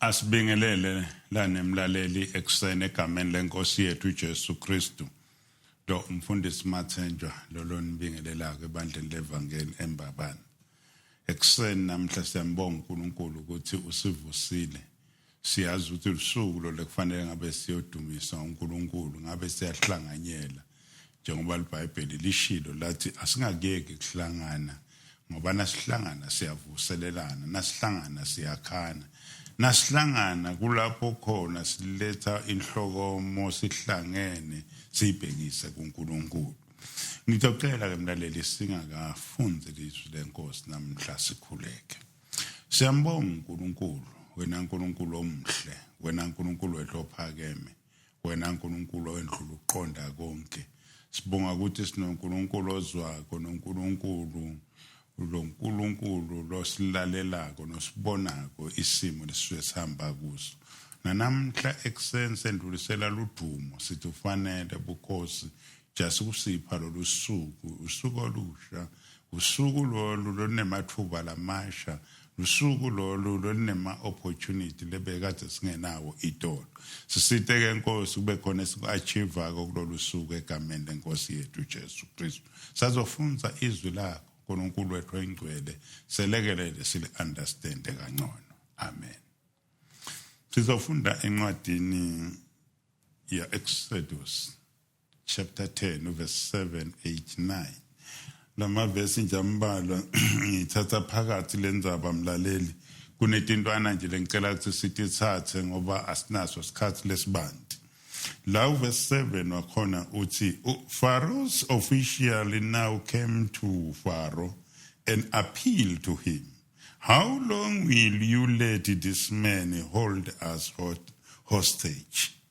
asibingelele lanemlaleli ekuseni egameni lenkosi yethu uJesu Kristu do umfundisi Mathenjwa lolonibingelelayo ebandleni levangeli embabane ekuseni namhla siyambonga uNkulunkulu ukuthi usivusile siyazi ukuthi usuku lo lekufanele ngabe siyodumisa uNkulunkulu ngabe siyahlanganyela njengoba liBhayibheli lishilo lathi asingakeki kuhlangana ngoba nasihlangana siyavuselelana nasihlangana siyakhana nasihlangana kulapho khona siletha inhlokomo sihlangene sibhekise kuNkulunkulu Ngitocela ke mlaleli singakafunde lizwi lenkosi namhla sikhuleke. Siyambonga uNkulunkulu, wena uNkulunkulu omhle, wena uNkulunkulu wethophakeme, wena uNkulunkulu owendlula uqonda konke. Sibonga ukuthi sinoNkulunkulu ozwako noNkulunkulu Lo Nkulunkulu losilalelako nosibonako isimo lesisuke sihamba kuso. Nanamhla ekuseni sendlulisela ludumo sithi ufanele bukhosi jasi kusipha lolu suku usuku olusha usuku lolu lunemathuba lamasha Lusuku lolu lolunema opportunity lebekade singenawo itolo. Sisite ke Nkosi kube khona esiku achieve ko kulolu suku egameni lenkosi yethu Jesu Kristu. Sazofunza izwi lakho uNkulunkulu wethu oyingcwele selekelele sili understand kangcono amen sizofunda encwadini ya Exodus chapter 10 verse 7 8 9 lamavesi nje ambalwa ngithatha phakathi lenzaba mlaleli kunetintwana nje lengicela ukuthi sitithathe ngoba asinaso isikhathi lesibanti la verse 7 wakhona uthi Pharaoh's official now came to Pharaoh and appealed to him how long will you let this man hold us hostage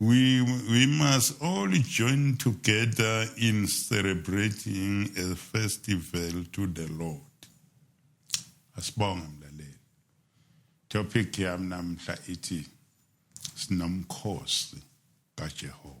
We, we must all join together in celebrating a festival to the Lord. Asibonga mlaleli. Topic yami namhla ithi sinomkhosi kaJehova.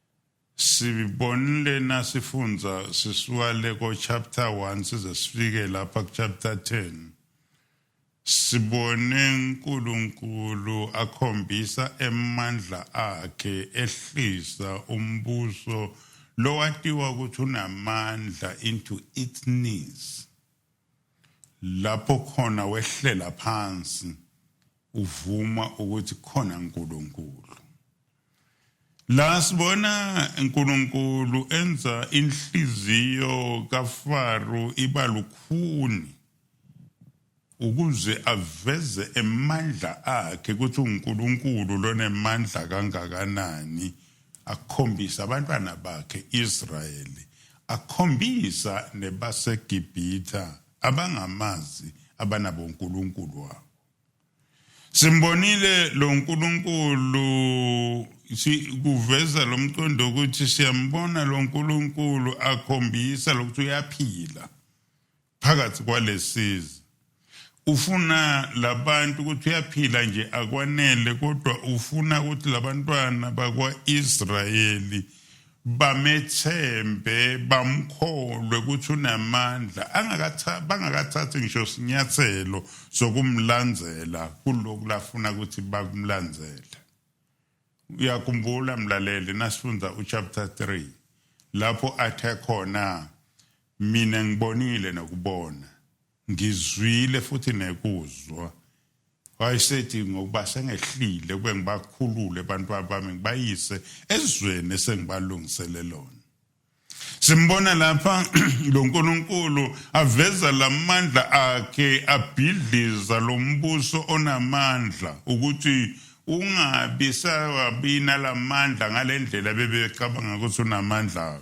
Sibonile nasifunza sisuka le ko chapter 1 size sifike lapha ku chapter 10. Sibone uNkulunkulu akhombisa emandla akhe ehlisa umbuso lowatiwa ukuthi unamandla into its knees. Lapho khona wehlela phansi uvuma ukuthi khona uNkulunkulu. La sibona uNkulunkulu enza inhliziyo kaFaro iba lukhuni ukuze aveze emandla akhe ukuthi uNkulunkulu lonemandla kangakanani akhombisa abantwana bakhe Israyeli akhombisa nebaseGibhitha abangamazi abanabo uNkulunkulu wabo Simbonile lo Nkulunkulu sikuveza lo mqondo ukuthi siyambona lo Nkulunkulu akhombisa lokuthi uyaphila phakathi kwalesizi ufuna labantu ukuthi uyaphila nje akwanele kodwa ufuna ukuthi labantwana bakwaIsrayeli bamethembe bamkholwe ukuthi unamandla bangakathathi ngisho sinyathelo sokumlandzela kulokhu lafuna ukuthi bakumlandzele uyakhumbula mlaleli nasifunda uchapter 3 lapho athe khona mina ngibonile nokubona ngizwile futhi nekuzwa wayesethi ngokuba sengehlile kube ngibakhulule abantu bami ngibayise ezweni esengibalungisele lona simbona lapha lo nkulunkulu aveza la mandla akhe abhidliza lo mbuso onamandla ukuthi ungabi sawabina la mandla ngale ndlela bebecabanga ukuthi unamandla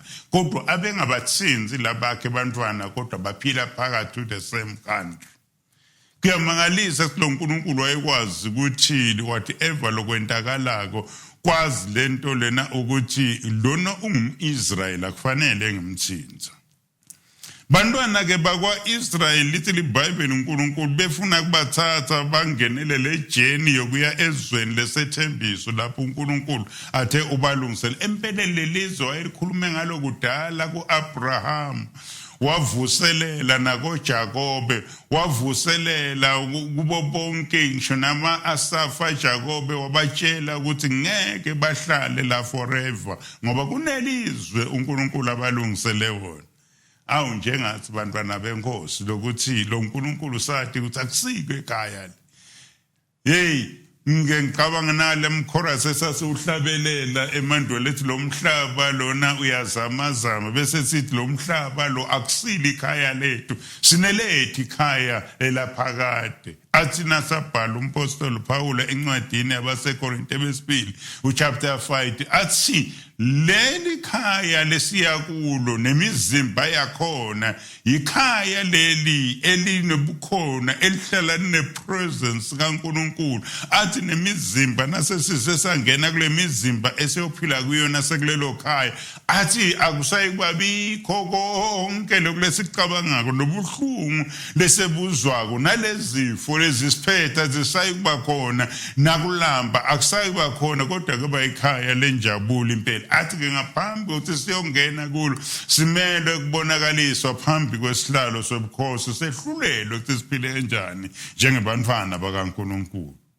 kodwa abengabathinzi labakhe bantwana kodwa baphila phakathi to the same country kuyamangalisa ukuthi lo nkulunkulu wayekwazi ukuthini whatever lokwentakalako kwazi le nto lena ukuthi lona ungum-israyeli akufanele ngemthinza Bantwana-ke bakwa-Israyeli lithi liBhayibheli uNkulunkulu befuna kubathatha bangenelele ejeni yokuya ezweni lesethembiso lapho uNkulunkulu athe ubalungisele. Empeleni lelizwe wayelikhulume ngalo kudala ku-Abraham wavuselela nakoJakobe wavuselela kubo bonke ngisho nama-Asafa Jakobe wabatshela ukuthi ngeke bahlale la forever ngoba kunelizwe uNkulunkulu abalungisele wona awu njengathi bantwana benkosi lokuthi lo nkulunkulu sathi ukuthi akusiko ekhaya le hey ngike ngicabanga nale mchorus esasiwuhlabelela emandulo lethi lo mhlaba lona uyazamazama bese sithi lo mhlaba lo akusile ikhaya lethu sinelethi ikhaya elaphakade athi nasabhala umpostoli Pawula encwadini yabaseKorinte besibili uchapter 5 athi leli khaya lesiya kulo nemizimba yakhona yikhaya leli elinobukhona elihlala nepresence kaNkuluNkulu athi nemizimba nasesize sangena kule mizimba esiyophila kuyona sekulelo khaya athi akusayi kwabikho konke lokulesicabangako lobuhlungu lesebuzwako nalezifo lezisiphetha zisayi kuba khona nakulamba akusayi kuba khona kodwa kuba ikhaya lenjabulo impela athi-ke ngaphambi kokuthi siyongena kulo simelwe kubonakaliswa phambi kwesihlalo sobukhosi sehlulelwe ukuthi siphile kanjani njengebantwana bakankulunkulu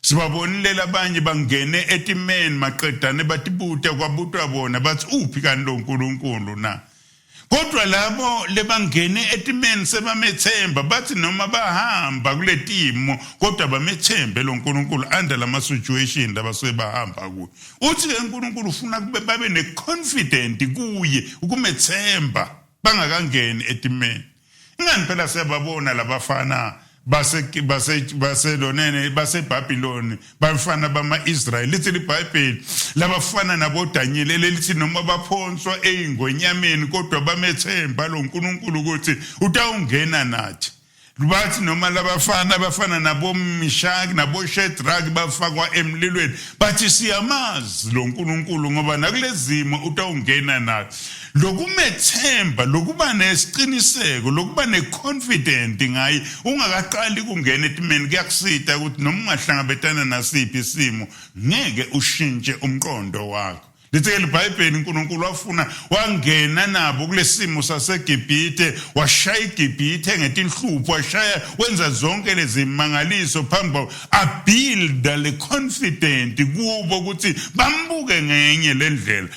Sibabonile labanye bangene etimeni maqedane batibuta kwabutwa bona bathi uphi kanti lo Nkulunkulu na. Kodwa labo lebangene etimeni sebamethemba bathi noma bahamba kuletimo kodwa bamethembe lo Nkulunkulu under lama situation labasuke bahamba kuyo. Uthi ke uNkulunkulu ufuna kube babe ne confident kuye ukumethemba bangakangeni etimeni. Ingani phela siyababona labafana base base baselonene baseBabiloni bafana bamaIsrael lithi liBhayibheli labafana naboDanyeli lelithi noma baphonswa eingonyameni kodwa bamethemba loNkulunkulu ukuthi utawungena nathi bathi noma labafana bafana nabomishaki naboshedraki bafakwa emlilweni bathi siyamazi lo nkulunkulu ngoba nakulezimo utawungena nayo lokumethemba lokuba nesiqiniseko lokuba neconfident ngaye ungakaqali kungena etimeni kuyakusita ukuthi noma ungahlangabetana nasiphi isimo ngeke ushintshe umqondo wakho Lithe libhayibheli uNkulunkulu wafuna wangena nabo kulesimo saseGibhithe washaya iGibhithe ngetinhlupho washaya wenza zonke lezimangaliso phambi abuilda le confident kubo ukuthi bambuke ngenye lendlela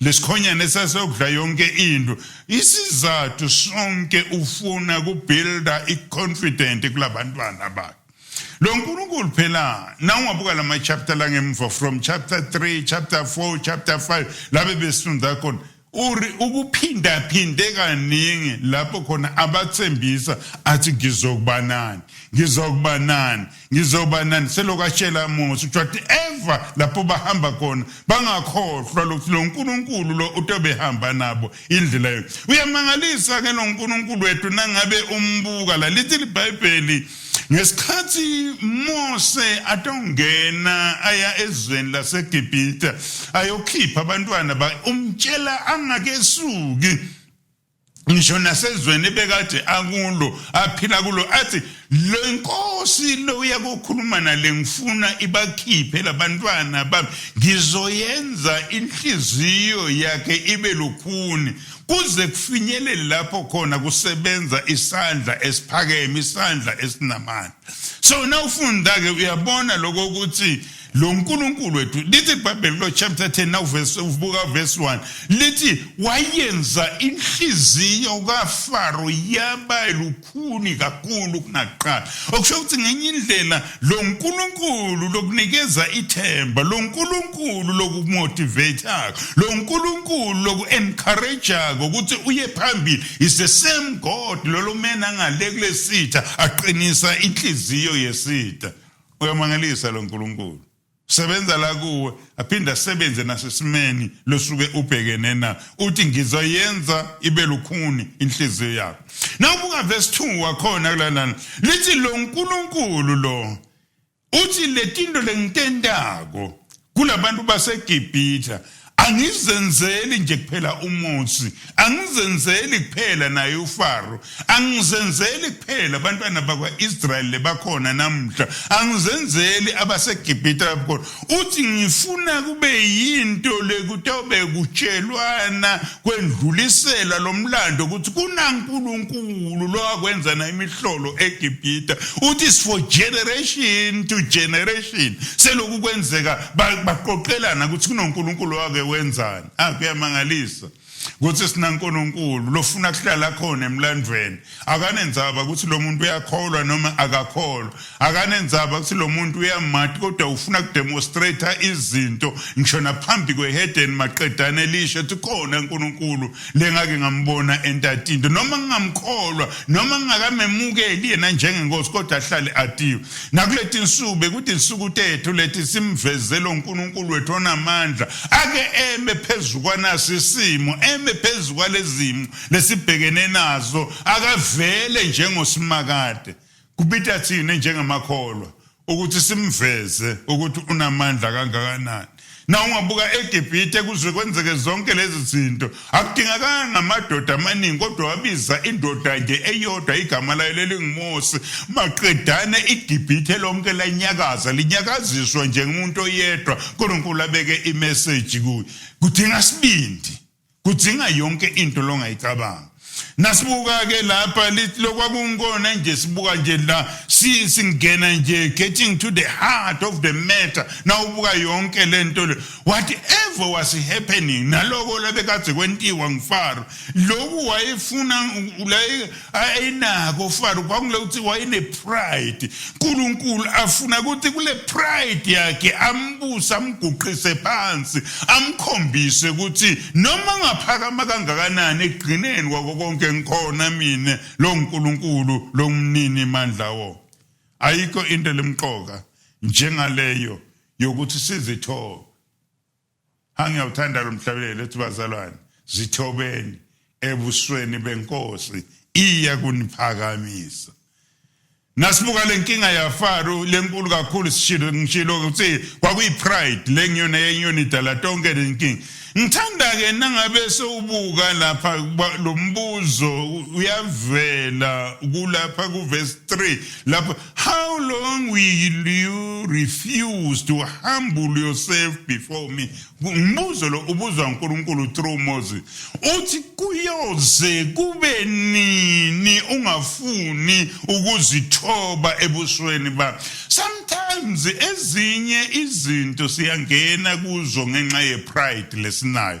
lesikhonyane sasokudla yonke into isizathu sonke ufuna kubuilda iconfident kulabantwana bakhe lo nkulunkulu phela nawungabuka lama chapter la ngemva from chapter 3 chapter 4 chapter 5 labe besifunda khona uri ukuphindaphinde kaningi lapho khona abathembisa athi ngizokubanani ngizokubanani ngizoba nani selokhu ashela mose kuthiwa ti ever lapho bahamba khona bangakhohlwa lokuthi lo nkulunkulu lo utobehamba nabo indlela yo uyamangalisa-ke lo nkulunkulu wethu nangabe umbuka la lithi libhayibheli ngesikhathi mose atongena aya ezweni lasegibhita ayokhipha abantwana umtshela angakesuki ngisho nasezweni ebekade akulo aphila kulo athi lo inkosi lo uyakukhuluma nale ngifuna ibakhiphe labantwana bami ngizoyenza inhliziyo yakhe ibe lukhuni kuze kufinyelele lapho khona kusebenza isandla esiphakeme isandla esinamandla so nawufunda ke uyabona lokho ukuthi lo nkulunkulu wethu lithi ibhayibheli lo chapter 10 nawuvesi ubuka verse 1 lithi wayenza inhliziyo kafaro yaba lukhuni kakhulu kunaqala okusho ukuthi ngenye indlela lo nkulunkulu lokunikeza ithemba lo nkulunkulu lokumotivatako lo nkulunkulu loku-encouragako ukuthi uye phambili is the same god lolo mena ngale kulesitha aqinisa inhliziyo yesitha uyamangalisa lo Nkulunkulu sebenza la kuwe aphinde asebenze nasesimeni losuke ubhekene na uthi ngizoyenza ibe lukhuni inhliziyo yakho nawubuka verse 2 wakhona kulalana lithi lo nkulunkulu lo uthi letinto lengitentako kunabantu baseGibhithe angizenzeli nje kuphela umuthi angizenzeli kuphela naye uFaro angizenzeli kuphela abantwana bakwaIsrael lebakhona namhla angizenzeli abaseGibhithe abakhona uthi ngifuna kube yinto lekutobe kutshelwana kwendlulisela lo mlando ukuthi kunankulunkulu lo akwenza na imihlolo egibhita uthi is for generation to generation seloku kwenzeka baqoqelana ukuthi kunonkulunkulu wake wenzani akuyamangalisa ah, ukuthi sinankulunkulu lofuna kuhlala khona emlandweni akanenzaba ukuthi lo muntu uyakholwa noma akakholwa akanenzaba ukuthi lo muntu uyamati kodwa ufuna kudemonstrata izinto ngisho naphambi kweheden maqedane elisho ethi khona unkulunkulu lengake ngambona entatinto noma ngingamkholwa noma ngingakamemukeli yena njengenkosi kodwa ahlale atiwe nakuleti nsuku bekuthi insuku tethu leti simvezele unkulunkulu wethu onamandla ake eme phezu kwanasisimo eme phezu kwalezimo lesibhekene nazo akavele njengosimakade kubita thina njengamakholwa ukuthi simveze ukuthi unamandla kangakanani na ungabuka eGibhithe kuze kwenzeke zonke lezi zinto akudingakanga amadoda amaningi kodwa wabiza indoda nje eyodwa igama layo lelingumose maqedane iGibhithe lonke lanyakaza linyakaziswa njengomuntu oyedwa uNkulunkulu abeke imeseji kuyo kudinga sibindi kudzinga yonke into longayicabanga nasibuka-ke lapha lithi lokwakunkona nje sibuka nje la singena nje getting to the heart of the matter nawubuka yonke le nto le whatever was happening naloko labekadze kwentiwa ngifaro loku wayefuna ayinako fana kwakule ukuthi wayenepride unkulunkulu afuna ukuthi kule pride yakhe ambuse amguqise phansi amkhombise ukuthi noma ngaphakama kangakanani ekugcineni kwako konke ngikhona mina lo nkulunkulu lo mnini mandla wo ayikho into lemqoka njengaleyo yokuthi sizithobe Angiyawuthanda lomhlabelelo ethi bazalwane zithobeni ebusweni benkosi iya kuniphakamisa nasibuka lenkinga yaFaro lenkulu kakhulu sishilo ngishilo ukuthi kwakuyipride lenyoni yenyoni idala tonke lenkinga ngithanda ke nangabe sewubuka lapha lombuzo uyavela kulapha kuverse 3 lapha How long will you refuse to humble yourself before me? Umbuzo lo ubuzwa uNkulunkulu through Moses. Uthi kuyoze kube nini ungafuni ukuzithoba ebusweni ba. Sometimes ezinye izinto siyangena kuzo ngenxa ye pride lesinayo.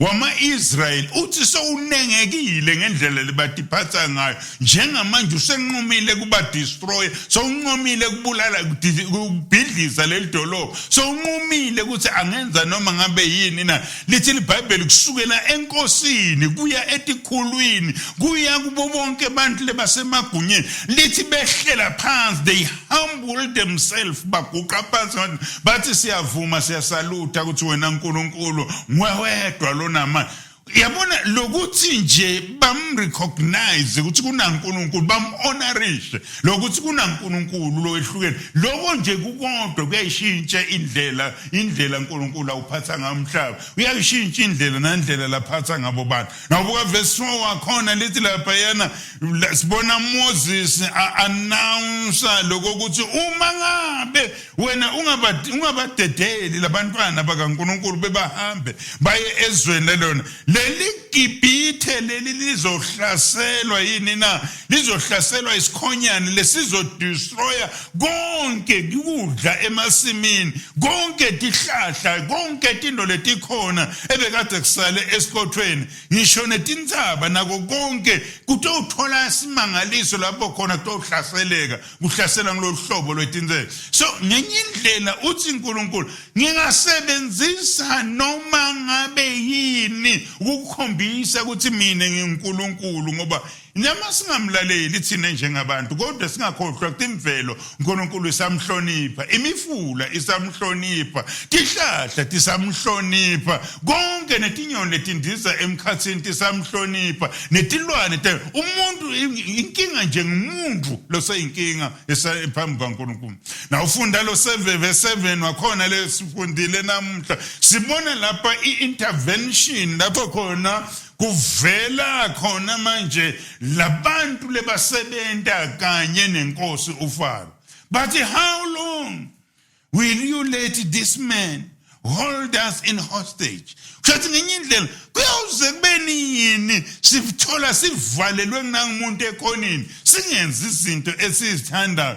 wama-Israyeli uthi sowunengekile ngendlela lebatiphatha ngayo njengamanje usenqumile kubadestroya sowunqumile kubulala kubhidliza leli dolobha sowunqumile ukuthi angenza noma ngabe yini na lithi libhayibheli kusukela enkosini kuya etikhulwini kuya kubo bonke abantu lebasemagunyeni lithi behlela phansi they humble themselves baguqa phansi ngathi bathi siyavuma siyasalutha ukuthi wena uNkulunkulu ngwewedwa lonama yabona lokuthi nje bamrecognize ukuthi kunaNkulunkulu bamhonorishe lokuthi kunaNkulunkulu lowehlukene lokho nje kukodwa kuyayishintsha indlela indlela uNkulunkulu awuphatha ngayo umhlaba uyayishintsha indlela nandlela laphatha ngabo bantu Nakubuka verse 4 wakhona lithi lapha yena sibona Moses announce lokho ukuthi uma ngabe wena ungabadi ungabadedeli labantwana bakaNkuluNkulu bebahambe baye ezweni lelona leli Gibhithe leli lizohlaselwa yini na lizohlaselwa isikhonyane lesizo destroyer konke kudla emasimini konke tihlahla konke tinto letikhona ebekade kusale esiqothweni ngisho netintshaba nako konke kutowuthola isimangaliso lapho khona kutohlaseleka kuhlasela ngololu hlobo lwetinsela so ngenye indlela uthi unkulunkulu ngingasebenzisa noma ngabe yini ukukhombisa ukuthi mina ngingunkulunkulu ngoba Noma singamlaleli thina njengabantu kodwa singakhohlwa ukuthi imvelo uNkulunkulu isamhlonipha, imifula isamhlonipha, tihlahla tisamhlonipha, konke netinyoni letindiza emkhathini tisamhlonipha, netilwane umuntu inkinga nje ngumuntu loseyinkinga phambi kwaNkulunkulu. Nawufunda lo 7 verse 7 wakhona lesifundile namuhla sibona lapha i-intervention lapho khona kuvela khona manje labantu lebasebenta kanye nenkosi uFaro bathi how long will you let this man hold us in hostage kushathi ngenye indlela kuyawuze kube nini sithola sivalelwe kunangumuntu ekhonini singenzi izinto esizithandayo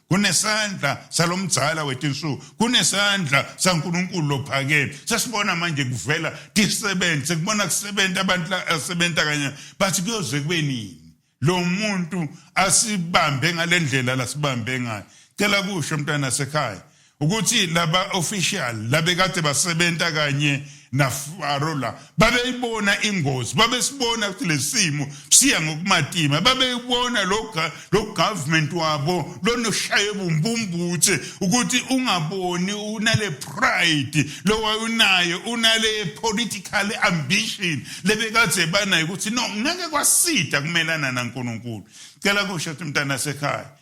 kunesandla salomdzala wetinsuku kunesandla saNkulunkulu lophakeme sesibona manje kuvela tisebenzi sekubona kusebenza abantu asebenza kanye bathi kuyoze kube nini lo muntu asibambe ngale ndlela lasibambe ngayo cela kusho mntwana sekhaya ukuthi laba official labekade basebenta kanye nafaro la babeyibona ingozi babesibona ukuthi lesimo siya ngokumatima babeyibona lo lo government wabo lonoshaye bumbumbuthe ukuthi ungaboni unale pride lowayunayo unale political ambition lebekade banayo ukuthi no ngeke kwasida kumelana naNkulunkulu cela kusho ukuthi mntana sekhaya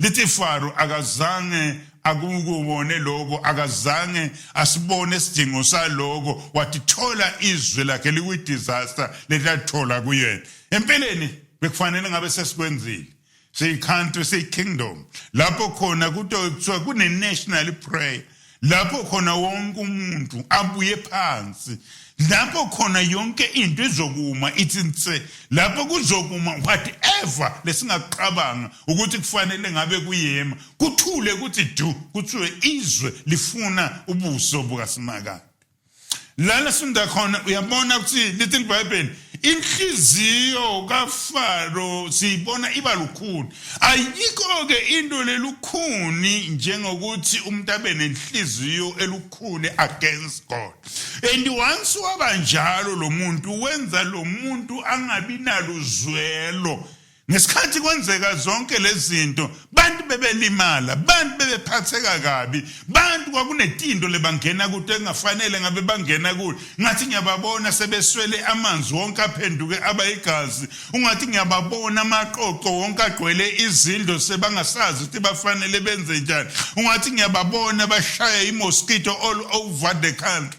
lithi Faro akazange akukubone lokho akazange asibone isidingo saloko watithola izwe lakhe likwidisaster letathola kuyena empeleni bekufanele ngabe sesikwenzile siyi-country siyi-kingdom lapho khona kuto kuthiwa kune-national prayer lapho khona wonke umuntu abuye phansi lapho khona yonke into izokuma ithi nse lapho kuzokuma whatever lesingaqabanga ukuthi kufanele ngabe kuyema kuthule kuthi du kuthiwe izwe lifuna ubuso bukaSimakade lana sifunda khona uyabona ukuthi little bible inhliziyo kafaro siyibona iba lukhuni ayikho-ke into lelukhuni njengokuthi umuntu abe nenhliziyo elukhuni against god and once waba njalo lo muntu wenza lo muntu angabi naluzwelo Ngesikhathi kwenzeka zonke lezinto bantu bebelimala bantu bebephatheka kabi bantu kwakunetindo lebangena kude engafanele ngabe bangena kuyo ngathi ngiyababona sebeswele amanzi wonke aphenduke abayigazi ungathi ngiyababona amaqoqo wonke agcwele izindlo sebangasazi ukuthi bafanele benze njani ungathi ngiyababona bashaya imosquito all over the country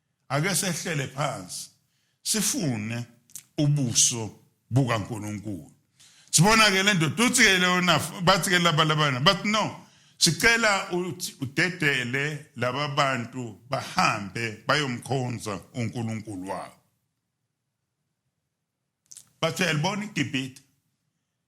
Ake sehlele phansi sifune ubuso bukaNkulunkulu. Sibona ke lento tuthi ke lona bathi ke laba labana but no sicela udedele laba bantu bahambe bayomkhonza uNkulunkulu wabo. Bathe yalibona iGibhithe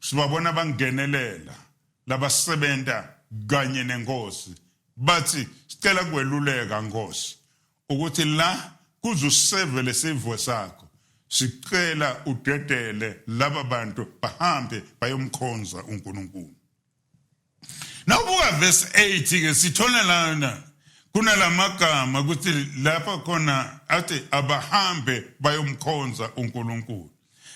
sibabona bangenelela labasebenza kanye nenkosi bathi sicela kweluleka nkosi ukuthi la kuzuseve lesivo sakho sicela udedele laba bantu bahambe bayomkhonza uNkulunkulu Nawubuka verse 8 ke sithola lana kunalamagama ukuthi lapha khona athi abahambe bayomkhonza uNkulunkulu.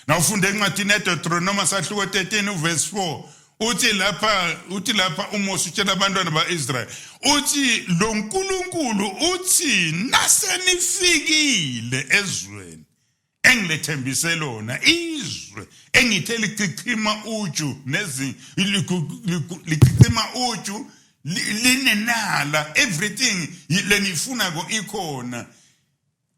Nawufunda encwadini eDeuteronomy sahluko 13 uverse 4 uthi lapha uthi lapha uMose utshela abantwana baIsrael uthi lo nkulunkulu uthi nasenifikile ezweni engilethembise lona izwe engithe lichichima uju nezi lichichima uju linenala everything lenifuna ko ikhona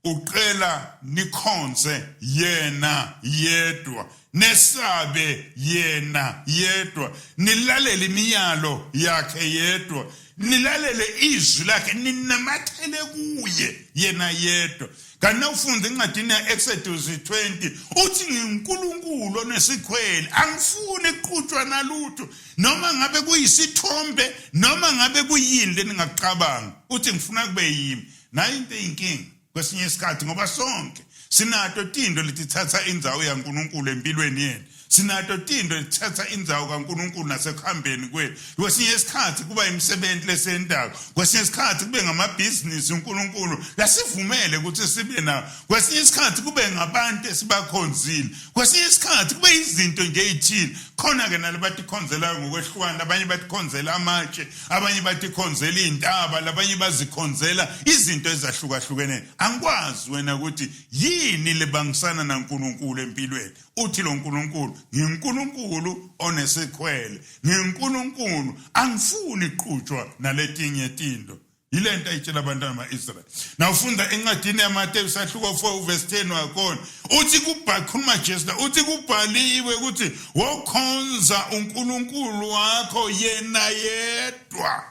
uqela nikhonse yena yedwa nesabe yena yedwa nilalele imiyalo yakhe yedwa nilalele izwi lakhe ninamathele kuye yena yedwa kanti nawufunda encwadini ya-exodus 20 uthi nginkulunkulu onesikhwele angifuni kuqhutshwa nalutho noma ngabe kuyisithombe noma ngabe kuyini leningakucabanga uthi ngifuna kube yimi nayo into eyinkinga kwesinye isikhathi ngoba sonke sinato tinto letitsatsa indzawo yaNkulunkulu empilweni yenu sinato tinto letitsatsa indzawo kaNkulunkulu nasekuhambeni kwenu kwesinye isikhathi kuba imisebenzi lesentako kwesinye isikhathi kube ngamabhizinisi uNkulunkulu lasivumele ukuthi sibe nawo kwesinye isikhathi kube ngabantu esibakhonzile kwesinye isikhathi kube izinto nje ezithile khona-ke nalabatikhonzelayo ngokwehlukana abanye batikhonzela amatshe abanye batikhonzela iy'ntaba labanye bazikhonzela izinto ezahlukahlukene angikwazi wena ukuthi yini lebangisana nankulunkulu empilweni uthi lo nkulunkulu nginkulunkulu onesikhwele nginkulunkulu angifuni qutshwa naletinye tinto yile nto ayitshela abantwana ba-israyeli nawufunda encwadini yamateyu sahluko 4 uvesi 10 wakhona uthi kukhuluma jesu la uthi kubhaliwe ukuthi wokhonza unkulunkulu wakho yena yedwa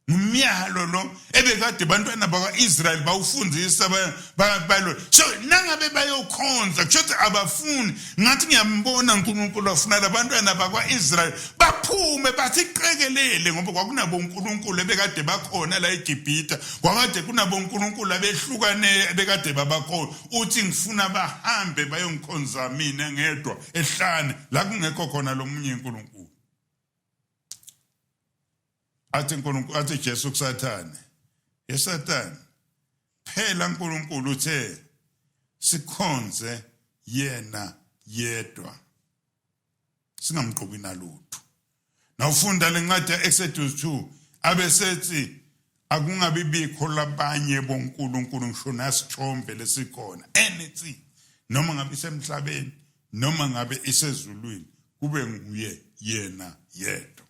umyalo lo ebekade bantwana bakwa-israyeli bawufundisa balo so nangabe bayokhonza kusho ukuthi abafuni ngathi ngiyambona uNkulunkulu afuna labantwana bakwaIsrael baphume basiqekelele ngoba kwakunabo uNkulunkulu ebekade bakhona la eGibhita kwakade kunabo uNkulunkulu abehlukane ebekade babakhona uthi ngifuna bahambe bayongikhonza mina ngedwa ehlane la kungekho khona lomunye uNkulunkulu athi uNkulunkulu athi Jesu kuSathane eSathane phela uNkulunkulu uthe sikhonze yena yedwa singamqobi nalutho nawufunda lencwadi yaExodus 2 abesethi akungabi bikho labanye boNkulunkulu ngisho nasithombe lesikhona anything noma ngabe isemhlabeni noma ngabe isezulwini kube nguye yena yedwa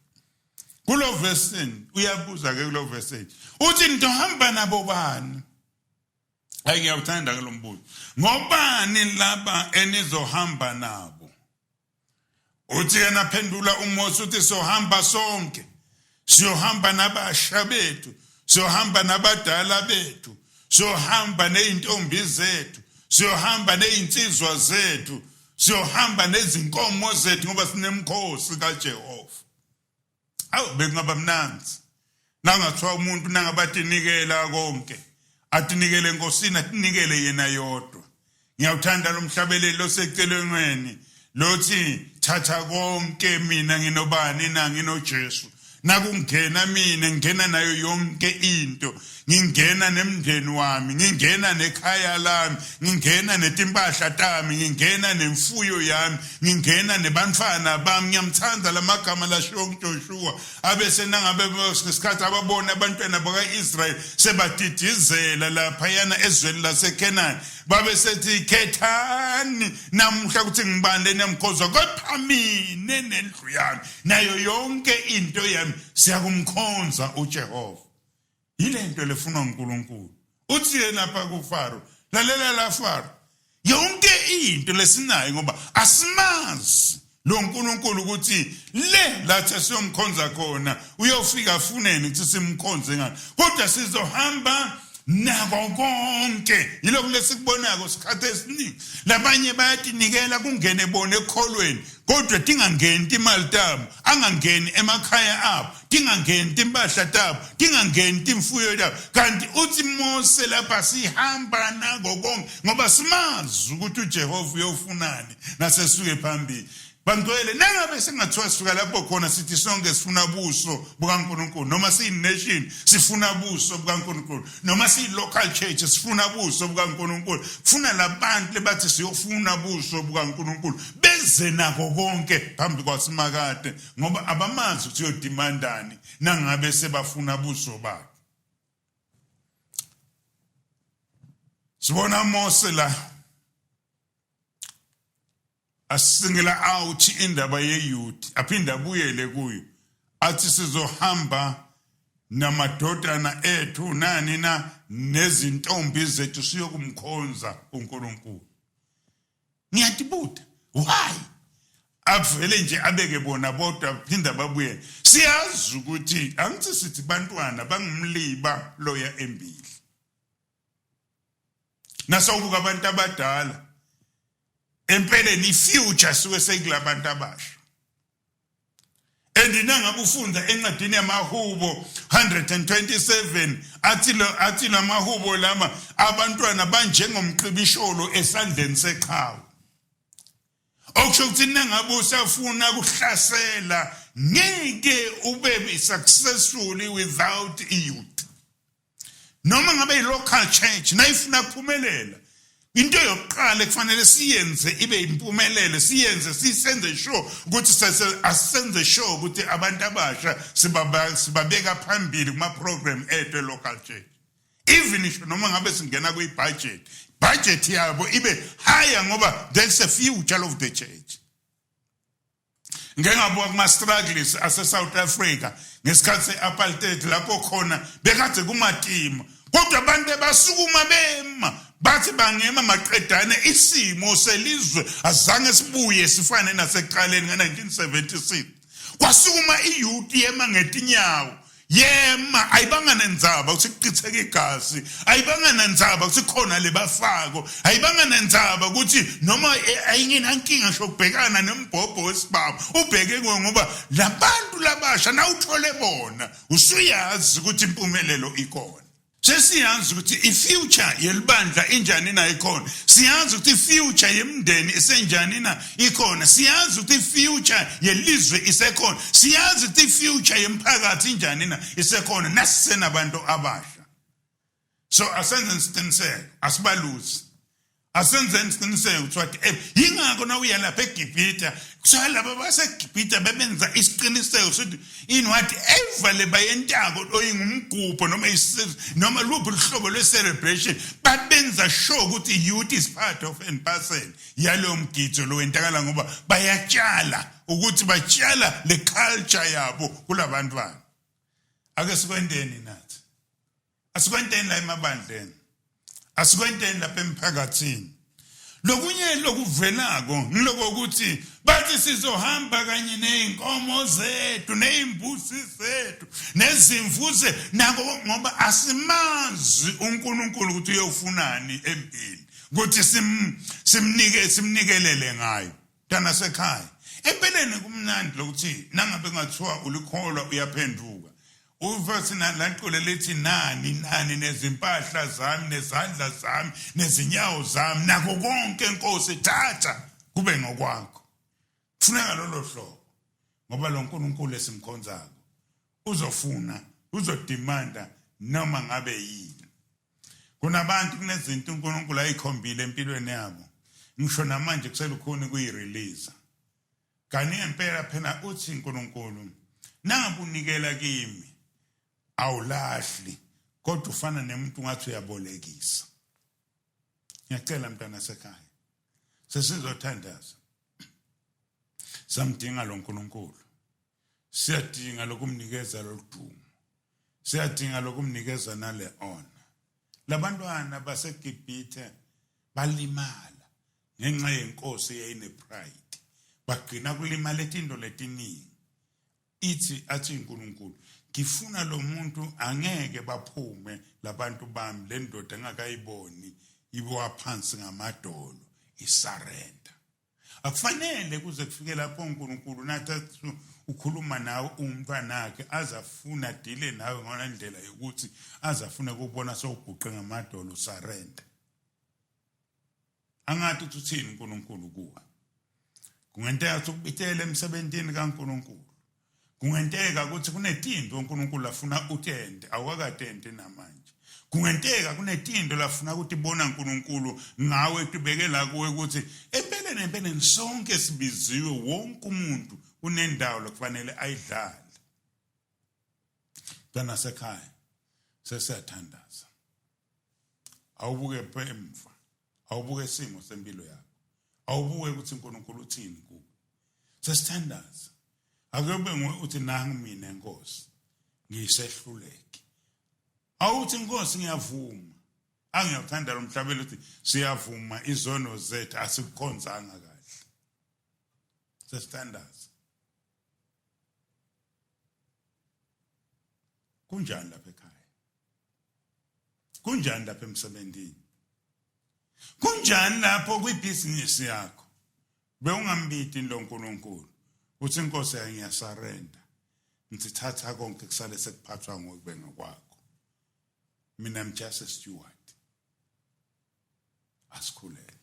kulo verse uyabuza ke kulo verse uthi ngizohamba nabo bani ayi ngiyawuthanda ke lo mbuzo ngobani laba enizohamba nabo uthi yena phendula uMose uthi sohamba sonke siyohamba nabasha bethu siyohamba nabadala bethu siyohamba nezintombi zethu siyohamba nezinsizwa zethu siyohamba nezinkomo zethu ngoba sinemkhosi kaJehova awu bekungaba mnandi nangathiwa umuntu nangabatenikela konke atinikele enkosini atinikele yena yodwa ngiyawuthanda lo mhlabeleli osecelengweni lothi thatha konke mina nginobani na nginojesu nakungena mina ngingena nayo yonke into ngingena nemndeni wami ngingena nekhaya lami ngingena netimpahla tami ngingena nemfuyo yami ngingena nebantfana bami ngiyamthanda lamagama lashiwo kuJoshua abese nangabe ngesikhathi ababona abantwana bakaIsrael sebadidizela lapha yana ezweni laseKenani babe sethi khethani namuhla ukuthi ngibani leniyamkhonza kepha mina nendlu yami nayo yonke into yami siyakumkhonza uJehova yile nto lefunwa unkulunkulu uthi yena apha kufaro lalela la faro yonke into lesinayo ngoba asimazi lo nkulunkulu ukuthi le lathi siyomkhonza khona uyofika afuneni ukuthi simkhonze ngani kodwa sizohamba nako konke yilokhu lesikubonako sikhathi esiningi labanye bayatinikela kungene bona ekholweni kodwa tingangeni timali tabo angangeni emakhaya abo tingangeni timphahla tabo tingangeni timfuyo tabo kanti uthi mose lapha sihamba nako konke ngoba simazi ukuthi ujehova uyofunani nasesuke phambili bangcwele nangabe singathiwa sisuka lapho khona sithi sonke sifuna buso bukankulunkulu noma siyi-nation sifuna buso bukankulunkulu noma siyi-local church sifuna buso bukankulunkulu kufuna labantu lebathi siyofuna buso bukankulunkulu beze nako konke phambi kwasimakade ngoba abamazi ukuthi uyodimandani nangabe sebafuna buso bakhe sibona Mose la asingela out indaba yeYuda aphinde abuyele kuyo athi sizohamba namadodana ethu nani na nezintombi zethu siyokumkhonza uNkulunkulu ngiyadibuda why avele nje abeke bona bodwa phinda babuye siyazi ukuthi angithi sithi bantwana bangumliba loya embili nasawubuka abantu abadala empeleni ifuture suke sekulabantu abasha and nangakufunza encwadini yamahubo 127 athi athi lamahubo lama abantwana banjengomqibisholo esandleni seqhawe okusho ukuthi nangabe usafuna ukuhlasela ngeke ube successfully without youth noma ngabe yi-local church nayifuna kuphumelela into yokuqala ekufanele siyenze ibe impumelelo siyenze sisenze sure ukuthi asenze sure ukuthi abantu abasha sibabeka phambili kuma-program ethu e-local church even isho noma ngabe singena kwi-budget budget yabo ibe higher ngoba there's a future of the church ngike ngabuka kuma-struggles ase-south africa ngesikhathi se-apartheid lapho khona bekade kumatima kodwa abantu ebasukuma bema bathi bangema maqedane isimo selizwe azange sibuye sifane nasekuqaleni ngo-1976 kwasukuma iyuti yema ngetinyawo yema ayibanga nenzaba ukuthi kuchitheka igazi ayibanga nenzaba ukuthi khona lebafako ayibanga nenzaba ukuthi noma ayingenankinga shokubhekana nembhobho wesibaba ubheke kuwe ngoba labantu labasha nawuthole bona usuyazi ukuthi impumelelo ikona sesiyazi ukuthi i-future yelibandla injani na ikhona siyazi ukuthi i-future yemndeni isenjani na ikhona siyazi ukuthi i-future yelizwe isekhona siyazi ukuthi i-future yemphakathi injani na isekhona nasisenabantu abasha so asenze isiqiniseko asibaluzi asenzeni isiqiniseko kuthiwa eh, yingakho nawuya lapha egibhita kuthiwa laba basegibhita bebenza isiqiniseko sokuthi in whatever le bayentako oyingumgubho noma noma luphi luhlobo lwe-celebration babenza sure ukuthi youth is part of and parcel yalowo mgido lo wentakala ngoba bayatshala ukuthi batshala le culture yabo kula bantwana ake sikwenteni nathi asikwenteni la emabandleni asikwenteni lapha emphakathini lokunye lokuvelako ngiloko ukuthi bathi sizohamba kanye ney'nkomo zethu ney'mbusi zethu nezimvu ze nako ngoba asimazi unkulunkulu ukuthi uyofunani empini ukuthi simnike simnikelele ngayo Ntanasekhaya, empeleni kumnandi lokuthi nangabe kungathiwa ulikholwa uyaphenduka. Uva sinalaculo lithi nani nani nezimpahla zami nezandla zami nezinyawo zami nako konke inkosi thatha kube ngokwakho. Funeka lolo hlobo ngoba lo nkulunkulu esimkhonzako uzofuna uzodimanda noma ngabe yini. kunabantu kunezinto uNkulunkulu ayikhombile empilweni yabo ngisho namanje kuselukhuni kuyirelease kanti ngempela phela uthi uNkulunkulu nangabunikela kimi awulahli kodwa ufana nemuntu ngathi uyabolekisa ngiyacela mntana sekhaya sesizothandaza samdinga lo nkulunkulu siyadinga lokumnikeza lodumo siyadinga lokumnikeza nale ona labantwana baseGibhithe balimala ngenxa yenkosi eyayinepride bagcina kulimala izinto letiningi ithi athi uNkulunkulu ngifuna lo muntu angeke baphume labantu bami le ndoda engakayiboni ibowa phansi ngamadolo isarenda akufanele kuze kufike lapho uNkulunkulu nathi ukhuluma nawe umntwanakhe azafuna dile nawe ngona ndlela yokuthi azafuna kubona sowuguqe ngamadolo surrender angathi ukuthi uthini uNkulunkulu kuwe kungenteka ukuthi ukubitele emsebenzini kaNkulunkulu Kungenteka ukuthi kunetinto uNkulunkulu afuna utente awakatente namanje. Kungenteka kunetinto lafuna ukuthi bona uNkulunkulu ngawe tubeke la kuwe ukuthi empeleni empeleni sonke sibiziwe wonke umuntu unendawo lokufanele ayidlale. Dana sekhaya sesiyathandaza. Awubuke emva awubuke isimo sempilo yakho awubuke ukuthi uNkulunkulu uthini kuwe sesithandaza akube nguwe uthi nangu mina inkosi ngisehluleki awuthi inkosi ngiyavuma angiyakuthanda lo mhlabelo ukuthi siyavuma izono zethu asikukhonzanga kahle sesithandaza kunjani lapha ekhaya kunjani lapha emsebenzini kunjani lapho kwibhizinisi yakho bewungambidi lo nkulunkulu uthi inkosi yayo ngiyasarenda ngithatha konke kusale sekuphathwa ngokube ngokwakho mina i'm just a steward asikhuleke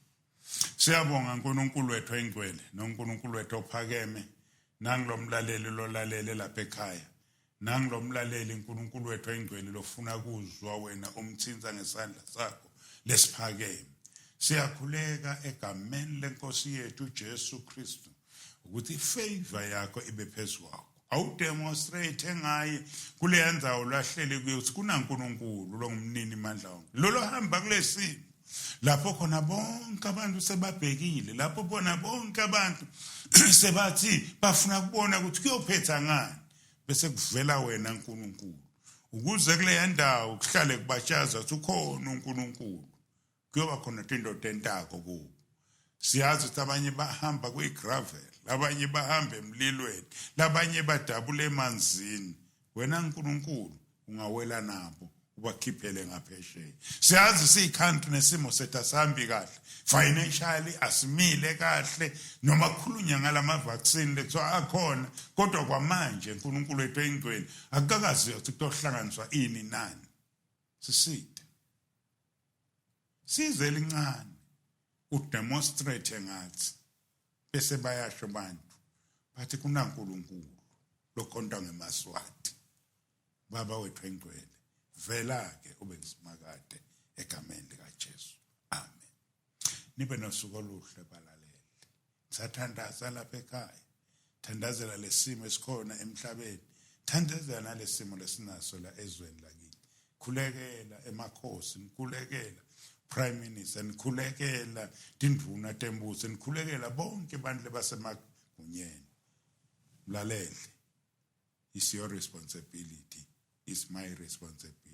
siyabonga uNkulunkulu wethu oyingcwele noNkulunkulu wethu ophakeme nangilomlaleli lolalele lapha ekhaya nangilomlaleli uNkulunkulu wethu oyingcwele lofuna kuzwa wena umthinta ngesandla sakho lesiphakeme siyakhuleka egameni lenkosi yethu uJesu Kristu ukuthi ifavor yakho ibe phezulu kwakho awudemonstrate ngaye kuleya ndawo lahleli kuyo ukuthi kunankulunkulu longumnini mandla wonke lolo hamba kulesimo lapho khona bonke abantu sebabhekile lapho bona bonke abantu sebathi bafuna kubona ukuthi kuyophetha ngani bese kuvela wena nkulunkulu ukuze kuleya ndawo kuhlale kubatshaza ukuthi ukhona unkulunkulu kuyoba khona tindoda entako kubo siyazi ukuthi abanye bahamba kwigravel abanye bahamba emlilweni labanye badabula emanzini wena nkulunkulu ungawela nabo ubakhiphele ngaphesheya siyazi siyikhantu nesimo sethu asihambi kahle financially asimile kahle noma kukhulunywa ngalama-vaccine lekuthiwa akhona kodwa kwamanje nkulunkulu wethu engcweni akukakaziwa ukuthi kutohlanganiswa ini nani siside Size elincane udemonstrate ngathi bese bayasho abantu bathi kunaNkulunkulu lokhonta ngemaswati baba wethu engcwele vela ke ube ngisimakade egameni likaJesu amen nibe nosuku oluhle balaleli sathandaza lapha ekhaya thandazela lesimo esikhona emhlabeni thandazela nalesimo lesinaso la ezweni lakini khulekela emakhosi nikhulekela prime minister nikhulekela tindvuna tembuso nikhulekela bonke abantu lebasemagunyeni mlalele is your responsibility is my responsibility